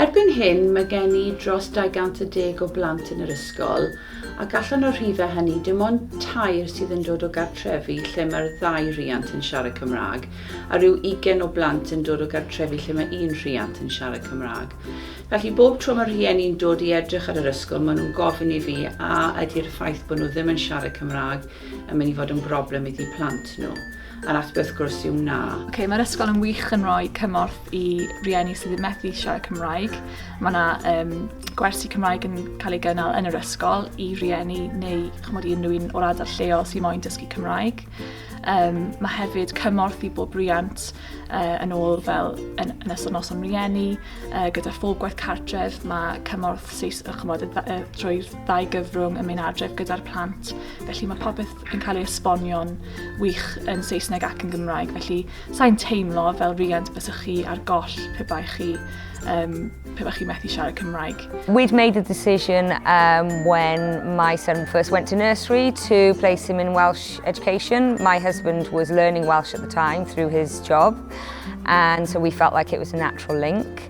Erbyn hyn mae gen i dros 210 o blant yn yr ysgol ac allan o'r rhifau hynny dim ond tair sydd yn dod o gartrefi lle mae'r ddau riant yn siarad Cymraeg a rhyw ugain o blant yn dod o gartrefi lle mae un rhiant yn siarad Cymraeg. Felly bob tro mae rhieni'n dod i edrych ar yr ysgol maen nhw'n gofyn i fi a ydy'r ffaith bod nhw ddim yn siarad Cymraeg yn mynd i fod yn broblem iddi plant nhw. A'r ateb wrth gwrs yw na. Ok, mae'r ysgol yn wych yn rhoi cymorth i rieni sydd yn methu siarad Cymraeg. Mae yna um, gwersi Cymraeg yn cael ei gynnal yn yr ysgol i rieni neu chymod i unrhyw un o'r ardal lleol sy'n moyn dysgu Cymraeg. Um, mae hefyd cymorth i bob riant uh, yn ôl fel yn, yn ystod noson rieni, uh, gyda phob gwaith cartref, mae cymorth seis, chymod, uh, drwy'r ddau gyfrwng yn mynd adref gyda'r plant, felly mae popeth yn cael ei esbonio'n wych yn Saesneg ac yn Gymraeg, felly sa'n teimlo fel rhiant bys chi ar goll pe bai chi, um, pe bai chi methu siarad Cymraeg. We'd made the decision um, when my son first went to nursery to place him in Welsh education. My husband was learning Welsh at the time through his job, and so we felt like it was a natural link.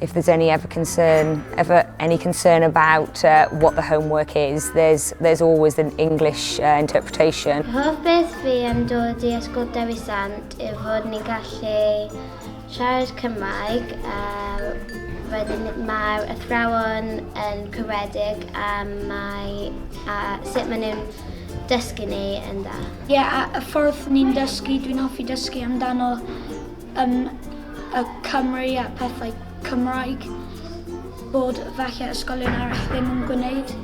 If there's any ever concern, ever any concern about uh, what the homework is, there's there's always an English uh, interpretation. Hoff beth fi am dod i Ysgol Dewi Sant yw fod ni'n gallu siarad Cymraeg a wedyn mae'r athrawon yn cywedig a mae a sut maen nhw'n dysgu ni yn dda. Ie, yeah, a y ffordd ni'n dysgu, dwi'n hoffi dysgu amdano yn y Cymru a pethau Cymraeg bod falle ysgolion arall ddim yn gwneud.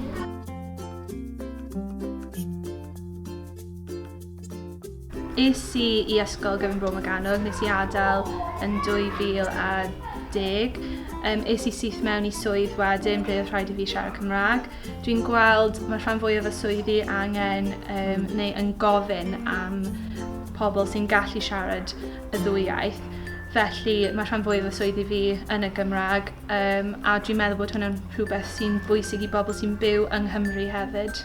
Es i i ysgol gyfun Bro Morgannwg, nes i adael yn 2010. Um, es i syth mewn i swydd wedyn ble oedd rhaid i fi siarad Cymraeg. Dwi'n gweld mae rhan fwyaf y swyddi angen um, neu yn gofyn am pobl sy'n gallu siarad y ddwy iaith. Felly mae rhan fwyaf y swyddi fi yn y Gymraeg um, a dwi'n meddwl bod hwnna'n rhywbeth sy'n bwysig i bobl sy'n byw yng Nghymru hefyd.